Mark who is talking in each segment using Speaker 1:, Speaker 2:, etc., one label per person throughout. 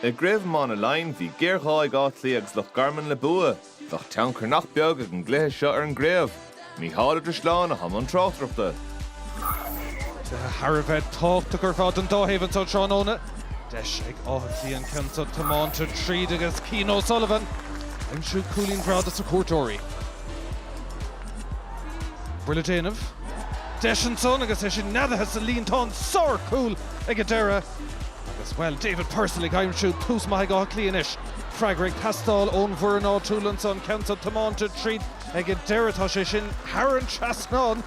Speaker 1: I gCraobh Iomána Laighean, bhí géarghá ag Áth Cliath agus Loch Garman le bua. Bheadh tionchar nach beag ag an gcluiche seo ar an gcraobh. Mícheál Ó Drisleáin a bhí i mbun tráchtaireachta.
Speaker 2: Thar a bheith tábhachtach ar fad don dá thaobh anseo tráthnóna. Deis ag Áth Cliath an ceann so tiomáinte tríd agus Cian O'Sullivan aimsiú cúilín breá dos na cuairteoirí. Buille déanamh deis ansan agus é sin neadaithe sa líontán sárchúl ag an deireadh agus, bhuel, David Purcell ag aimsiú tús maith ag Áth Cliath anois. Freagra ag teastáil ón bhfoireann áitiúil ansan, ceann so tiomáinte tríd ag an deireadh, tá sé sin thar an trasnán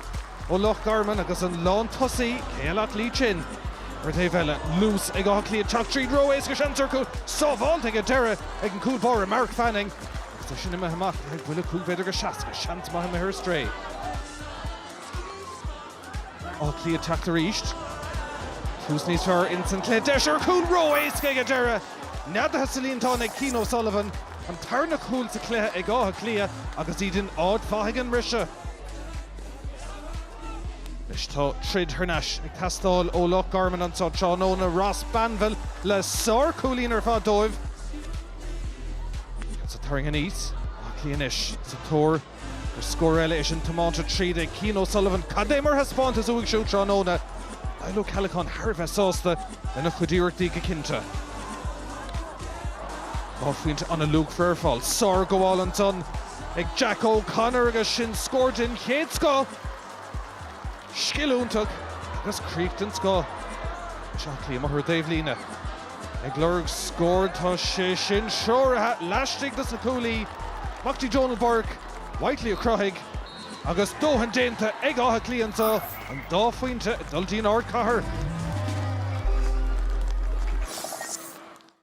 Speaker 2: ó Loch Garman agus an lántosaí, cé eile ach Lee Chin? Ar an taobh eile, luas ag Áth Cliath ag teacht tríd ró-éasca seans ar chúl sábháilte ag an deireadh ag an cúl báire Mark Fanning. Agus é sin imithe amach, do bhuille cúig mhéadar agus seasca, is seans maith imithe ar strae. Áth Cliath ag teacht arís. Tús níos fearr ins an cluiche, deis ar chúl ró-éasca ag an deireadh. Neadaithe sa líontán ag Cian O'Sullivan, an tarna chúl sa cluiche ag Áth Cliath agus iad in áit mhaith ag an mbriseadh. Anois tá troid thar n-ais ag teastáil ó Loch Garman anseo tráthnóna, Ross Banville le sár-chúilín ar fad dóibh. Agus ag tarraingt aníos, Áth Cliath anois sa tóir ar scór eile. É sin tiomáinte tríd ag Cian O'Sullivan. Cad é mar thaispeántas uaidh siúd tráthnóna! Niall Ó Ceallacháin thar a bheith sásta lena chuid iarrachtaí go cinnte. Dhá phointe ana-luachmhar ar fáil. Sárghabháil ansan ag Jack O'Connor agus sin scór den chéad scoth! Scil iontach agus críoch den scoth agus Áth Cliath amach ar an dtaobhlíne. Ag lorg scóir, tá sé sin treoraithe laistigh dos na cuaillí, Mac Dí Donal Burke, Whitely a chruthaigh, agus dóthain déanta ag Áth Cliath agus an dá phointe ag dul dtí'n ardchathair.